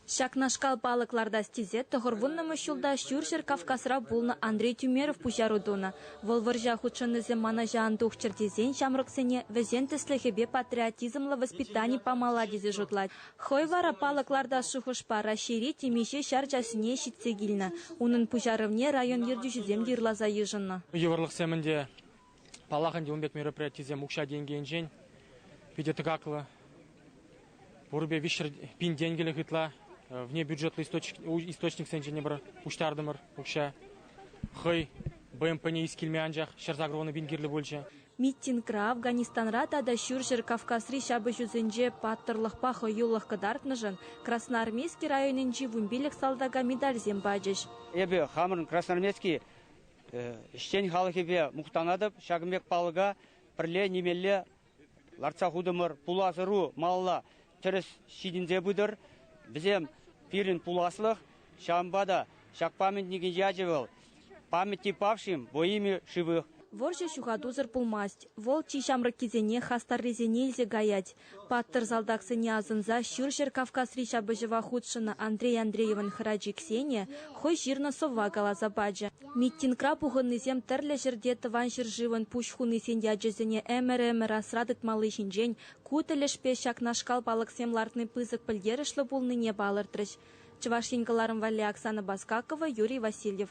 Ҫакнашкал палӑк лартас тесе тӑхӑрвуннӑмӗш ҫулта Ҫурҫӗр Кавказра пулнӑ Андрей Тюмеров пуҫару тунӑ. Вӑл вӑрҫа хутшӑннисем манӑҫа ан тухчӑр тесен ҫамрӑксене вӗсен тӗслӗхӗпе патриотизмлӑ воспитани памалла тесе шутлать. Хӑй вара палӑк лартас шухӑшпа Раҫҫейри темиҫе ҫар чаҫне ҫитсе килнӗ. Унӑн пуҫарӑвне район ертӳҫисем те ырласа йышӑннӑ. Йывӑрлӑхсем ӗнтӗ. Паллах ӗнтӗ, ун пек мероприятисем укҫа-тенкӗ питӗ тӑкаклӑ. Пурӗпе виҫҫӗр пин тенкӗлӗх ытла вне бюджетлӑ источниксен ҫӗнӗ пуҫтартӑмӑр укҫа. Хӑй БМПне ис килме анчах ҫӗр сакӑрвунӑ пин кирлӗ пулчӗ. Митингра Афганистанра тата Ҫурҫӗр Кавказри ҫапӑҫусенче паттӑрлӑхпа хӑюлӑх кӑтартнӑшӑн Красноармейски районӗнчи вунпиллӗк салтака медальсем пачӗҫ. Эпӗ хамӑрӑн Красноармейски ӗҫчен халӑхӗпе мухтанатӑп. Ҫакӑн пек палӑка пӗрле нимелле лартса хутӑмӑр. Пулас-ӑру малалла тӗрӗс ҫитӗнсе пытӑр. Вӗсем пирӗн пуласлӑх. Ҫавӑнпа та ҫак памятникӗн ячӗ вӑл «Памяти павшим во имя живых». Вӑрҫӑ ҫухатусӑр пулмасть. Вӑл чи ҫамрӑккисене, хастаррисене илсе каять. Паттӑр салтаксене асӑнса Ҫурҫӗр Кавказри ҫапӑҫӑва хутшӑннӑ Андрей Андреевӑн хӑрачи Ксения хӑй ҫырнӑ сӑвва каласа пачӗ. Митингра пухӑннисем тӗрлӗ ҫӗрте Тӑван ҫӗршывӑн пуҫ хунисен ячӗсене ӗмӗр-ӗмӗр асра тытмалли ҫинчен ку тӗлӗшпе ҫакнашкал палӑксем лартни пысӑк пӗлтерӗшлӗ пулнине палӑртрӗҫ Чӑваш Ен кӑларӑм валли Оксана Баскакова, Юрий Васильев.